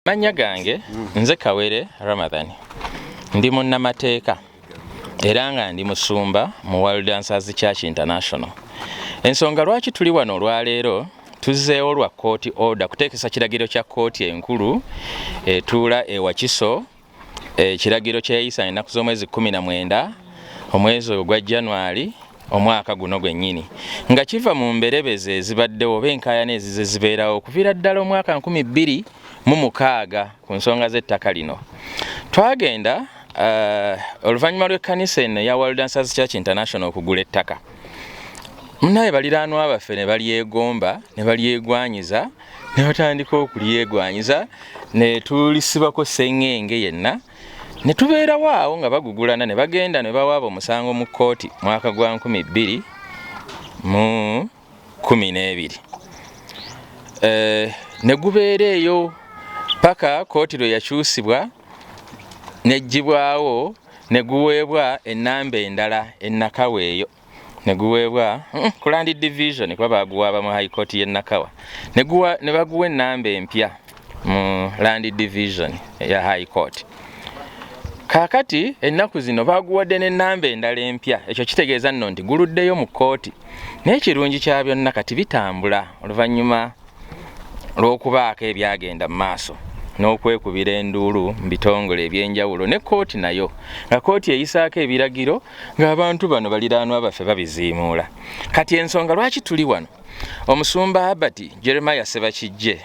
Amannya gange nze Kawere Ramadhan ndi munnamateeka era nga ndi musumba mu World Dancers Church International. Ensonga lwaki tuli wano olwaleero tuzzeewo lwa kkooti order kuteekesa kiragiro kya kkooti enkulu etuula e Wakiso ekiragiro kye yayisa ennaku z'omwezi kkumi na mwenda omwezi ogwa January omwaka guno gwennyini nga kiva mu mberebeze ezibaddewo oba enkaayana ezize zibeerawo okuviira ddala omwaka nkumi bbiri mu mukaaga ku nsonga z'ettaka lino twagenda uh, oluvannyuma lw'ekkanisa eno eya World Dancers Church International okugula ettaka munaye baliraanwa baffe ne balyegomba ne balyegwanyiza ne batandika okulyegwanyiza ne tulisibako sengenge yenna ne tubeerawo awo nga bagugulana ne bagenda ne bawaaba omusango mu kkooti mwaka gwa nkumi bbiri mu kumi n'ebiri eh, ne gubeera eyo paka kkooti lwe yakyusibwa nejjibwawo ne guweebwa ennamba endala ennakaweeyo neguweebwa mm, ku land division kuba baguwaaba mu high court ye nakawa ne baguwa enamba empya mu land division eya high court kakati ennaku zino baguwadde n'ennamba endala empya ekyo kitegeeza nno nti guluddeyo mu kkooti naye ekirungi kya byonna kati bitambula oluvannyuma lw'okubaako ebyagenda mu maaso n'okwekubira enduulu mu bitongole eby'enjawulo ne kkooti nayo nga kkooti eyisaako ebiragiro ng'abantu bano baliraanwa baffe babiziimuula kati ensonga lwaki tuli wano omusumba abert jeremiah sebakijje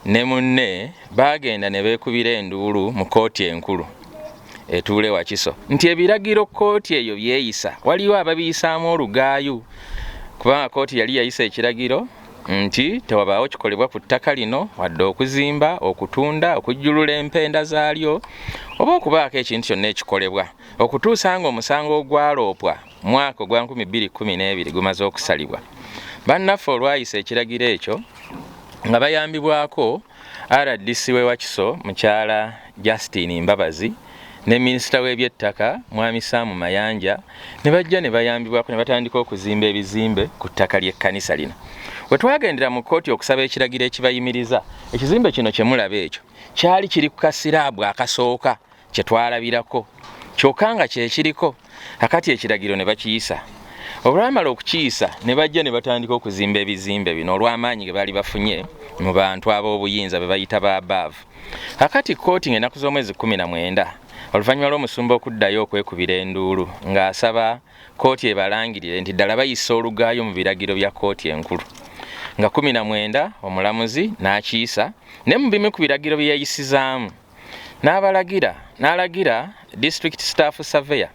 ne munne baagenda ne beekubira enduulu mu kkooti enkulu etuule wakiso nti ebiragiro kkooti eyo byeyisa waliwo ababiyisaamu olugaayu kubanga kkooti yali yayisa ekiragiro nti tewabaawo kikolebwa ku ttaka lino wadde okuzimba okutunda okujjulula empenda zaalyo oba okubaako ekintu kyonna ekikolebwa okutuusa nga omusango ogwaloopwa mwaka ogwa 2012 gumaze okusalibwa bannaffe olwayisa ekiragiro ekyo nga bayambibwako RDC w'e Wakiso mukyala Justine Mbabazi ne minisita w'ebyettaka Mwami Saamu Mayanja ne bajja ne bayambibwako ne batandika okuzimba ebizimbe ku ttaka ly'ekkanisa lino. Bwe twagendera mu kkooti okusaba ekiragiro ekibayimiriza, ekizimbe kino kye mulaba ekyo kyali kiri ku kasiraabu akasooka kye twalabirako kyokka nga kyekiriko akati ekiragiro ne bakiyisa olwamala okukiyisa ne bajja ne batandika okuzimba ebizimbe bino olw'amaanyi ge baali bafunye mu bantu ab'obuyinza be bayita ba bav akati kkooti ng'enaku z'omwezi kumi na mwenda oluvannyuma lw'omusumba okuddayo okwekubira enduulu ng'asaba kkooti ebalangirire nti ddala bayisa olugaayo mu biragiro bya kkooti enkulu nga kumi na mwenda omulamuzi n'akiyisa ne mu bimu ku biragiro bye yayisizaamu n'abalagira n'alagira district staff surveyor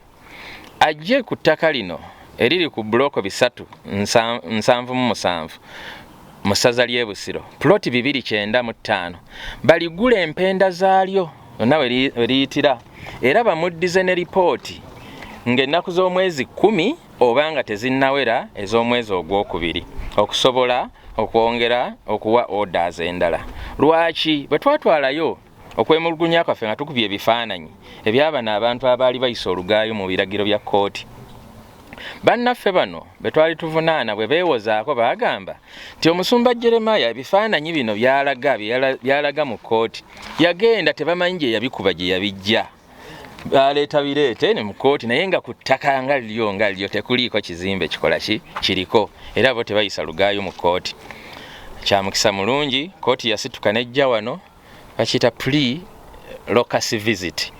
ajje ku ttaka lino eriri ku buloko bisatu nsanvu mu musanvu mu ssaza ly'e Busiro puloti bibiri kyenda mu ttaano baligula empenda zaalyo yonna weriyitira era bamuddize ne lipooti ng'ennaku z'omwezi kkumi oba nga tezinnawera ez'omwezi ogwokubiri okusobola okwongera okuwa orders endala lwaki bwe twatwalayo okwemulugunya kwaffe nga tukubye ebifaananyi ebyabano abantu abaali bayisa olugaayo mu biragiro bya kkooti bannaffe bano be twali tuvunaana bwe beewozaako baagamba nti omusumba jeremaya ebifaananyi bino byalaga byalaga mu kkooti yagenda tebamanyi gye yabikuba gye yabijja baleeta bireete ne mu kkooti naye nga ku ttaka nga lyo nga lyo tekuliiko kizimbe kikola ki kiriko era bo tebayisa lugaayo mu kkooti kya mukisa mulungi kkooti yasituka nejja wano bakiyita pre locus visit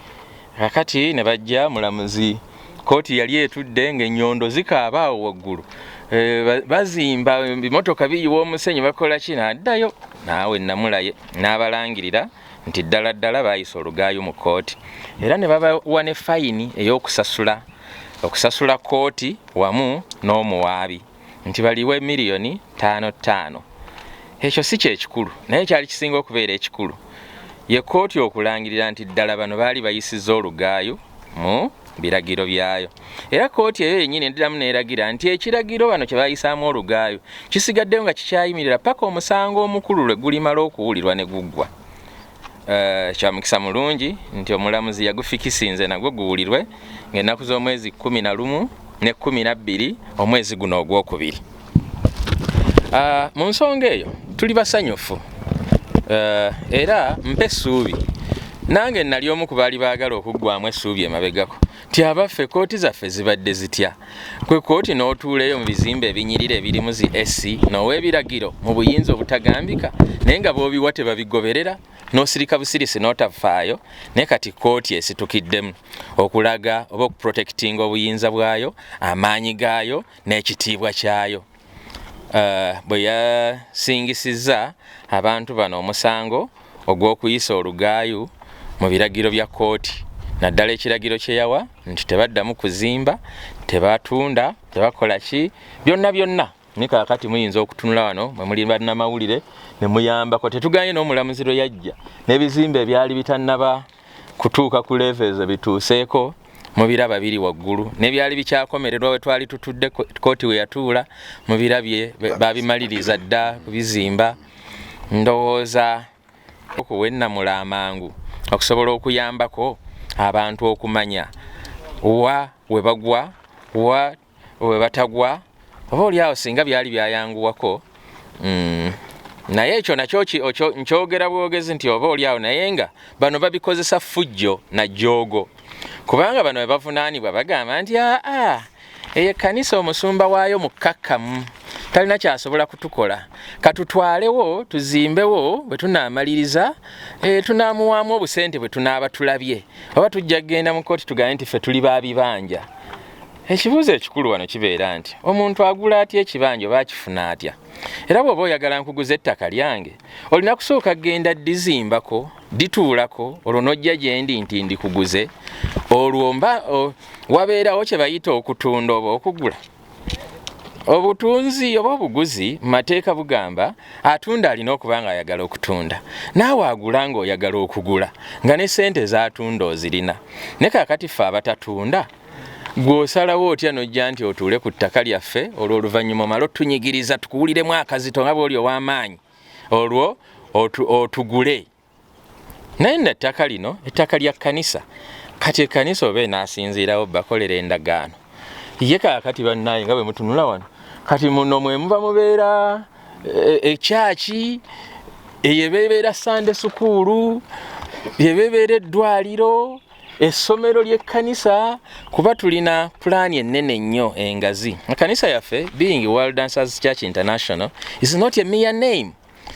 kakati ne bajja mulamuzi kkooti yali etudde ng'ennyondo zikaaba awo waggulu eh, bazimba bimotoka biyiwa omusenyu bakola ki naddayo naawe namulaye n'abalangirira nti ddala ddala baayisa olugaayu mu kkooti era ne babawa ne fayini ey'okusasula okusasula kkooti wamu n'omuwaabi nti baliwe miliyoni ttaano ttaano ekyo si kyekikulu naye kyali kisinga okubeera ekikulu ye kkooti okulangirira nti ddala bano baali bayisizza olugaayu mu biragiro byayo era kooti eyo yennyini endiramu neeragira nti ekiragiro bano kye bayisaamu olugaayu kisigaddeyo nga kikyayimirira paka omusango omukulu lwe gulimala okuwulirwa ne guggwa eh, kya mukisa mulungi nti omulamuzi yagufikisinze nagwo guwulirwe ng'ennaku z'omwezi kkumi na lumu ne kkumi na bbiri omwezi guno ogwokubiri Ah, mu nsonga eyo tuli basanyufu eh, era mpa essuubi nange nali omu ku baali baagala okuggwamu essuubi emabegako nti abaffe kooti zaffe zibadde zitya kwe kooti n'otuuleyo mu bizimbe ebinyirira ebirimu zi ec nowa ebiragiro mu buyinza obutagambika naye nga boobiwa tebabigoberera n'osirika busirisi n'otafaayo naye kati kooti esitukiddemu okulaga oba okuprotekitinga obuyinza bwayo amaanyi gaayo n'ekitiibwa kyayo eh, bwe yasingisizza abantu bano omusango ogw'okuyisa olugaayu mu biragiro bya kkooti naddala ekiragiro kye yawa nti tebaddamu kuzimba tebatunda tebakola ki byonna byonna naye kakati muyinza okutunula wano mwe muli bannamawulire ne muyambako tetuganye n'omulamuzi lwe yajja n'ebizimba ebyali bitannaba kutuuka ku leeva ezo bituuseeko mu bira babiri waggulu ne byali bikyakomererwa we twali tutudde kooti we yatuula mu bira bye babimaliriza dda kubizimba ndowooza okuwennamula amangu okusobola okuyambako abantu okumanya wa we bagwa wa bwe batagwa oba oli awo singa byali byayanguwako mm. naye ekyo nakyo nkyogera bwogezi nti oba oli awo naye nga bano babikozesa fujjo na joogo kubanga bano webavunaanibwa bagamba nti aa eyo ekkanisa omusumba waayo mukkakkamu talina kyasobola kutukola katutwalewo tuzimbewo bwe tunaamaliriza e, eh, tunaamuwaamu obusente bwe tunaaba tulabye oba tujja kugenda mu kooti tugambe nti ffe tuli ba bibanja Ekibuuzo ekikulu wano kibeera nti omuntu agula atya ekibanja oba akifuna atya? Era bw'oba oyagala nkuguza ettaka lyange olina kusooka kugenda dizimbako dituulako olwo n'ojja gyendi nti ndikuguze olwo mba wabeerawo kye bayita okutunda oba okugula obutunzi oba obuguzi mu mateeka bugamba atunda alina okuba nga ayagala okutunda naawe agula nga oyagala okugula nga ne sente zatunda ozirina ne kakati fe abatatunda gwe osalawo otya nojja nti otuule ku ttaka lyaffe olwo oluvannyuma omala otunyigiriza tukuwuliremu akazito nga bwoli ow'amaanyi olwo otugule naye na ttaka lino ettaka lya kkanisa kati ekkanisa oba enaasinziirawo bakolera endagaano ye kakati bannaye nga bwe mutunula wano kati muno mwe muba mubeera ekyaki e, e eyo ebeebeera sande sukuulu yebeebeera eddwaliro essomero ly'ekkanisa kuba tulina pulaani ennene nnyo engazi ekkanisa yaffe being world dancers church international is not a mere name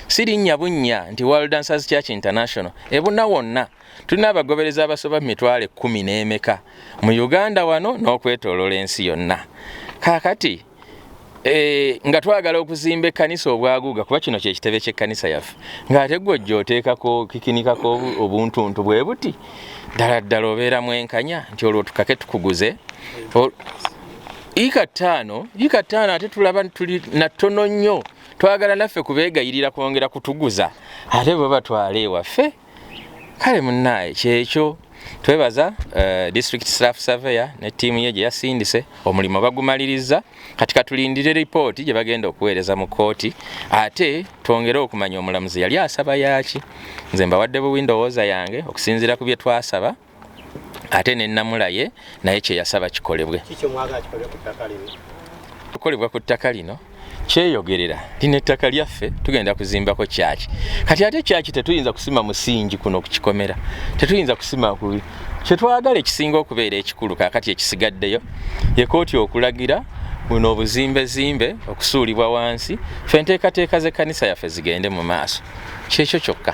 si linnya bunnya nti world dancers church international ebuna wonna tulina abagoberezi abasoba mu mitwalo ekkumi n'emeka mu uganda wano n'okwetoloola ensi yonna kaakati Eh, nga twagala okuzimba ekkanisa obwaguuga kuba kino kyekitebe kyekkanisa yaffe ng'ate gwe ojja oteekako kikinikako obuntuntu bwe buti ddala ddala obeera mwenkanya nti olwo tukake tukuguze ika ttaano ika ttaano ate tulaba tuli nattono nnyo twagala naffe kubeegayirira kwongera kutuguza ate bwe batwala ewaffe kale munnaaye kyekyo twebaza uh, district staff surveyor ne ttiimu ye gye yasindise omulimu bagumalirizza kati katulindire lipooti gye bagenda okuweereza mu kkooti ate twongere okumanya omulamuzi yali asaba yaaki nze mbawadde buwi ndowooza yange okusinziira ku bye twasaba ate ne namulaye naye kyeyasaba kikolebwe tukolebwa ku ttaka lino kyeyogerera lino ettaka lyaffe tugenda kuzimbako kyaki kati ate kyaki tetuyinza kusima musingi kuno kukikomera tetuyinza kusima kubi kyetwagala ekisinga okubeera ekikulu kakati ekisigaddeyo yekooti okulagira buno obuzimbezimbe okusuulibwa wansi fe enteekateeka z'ekkanisa yaffe zigende mu maaso kyekyo kyokka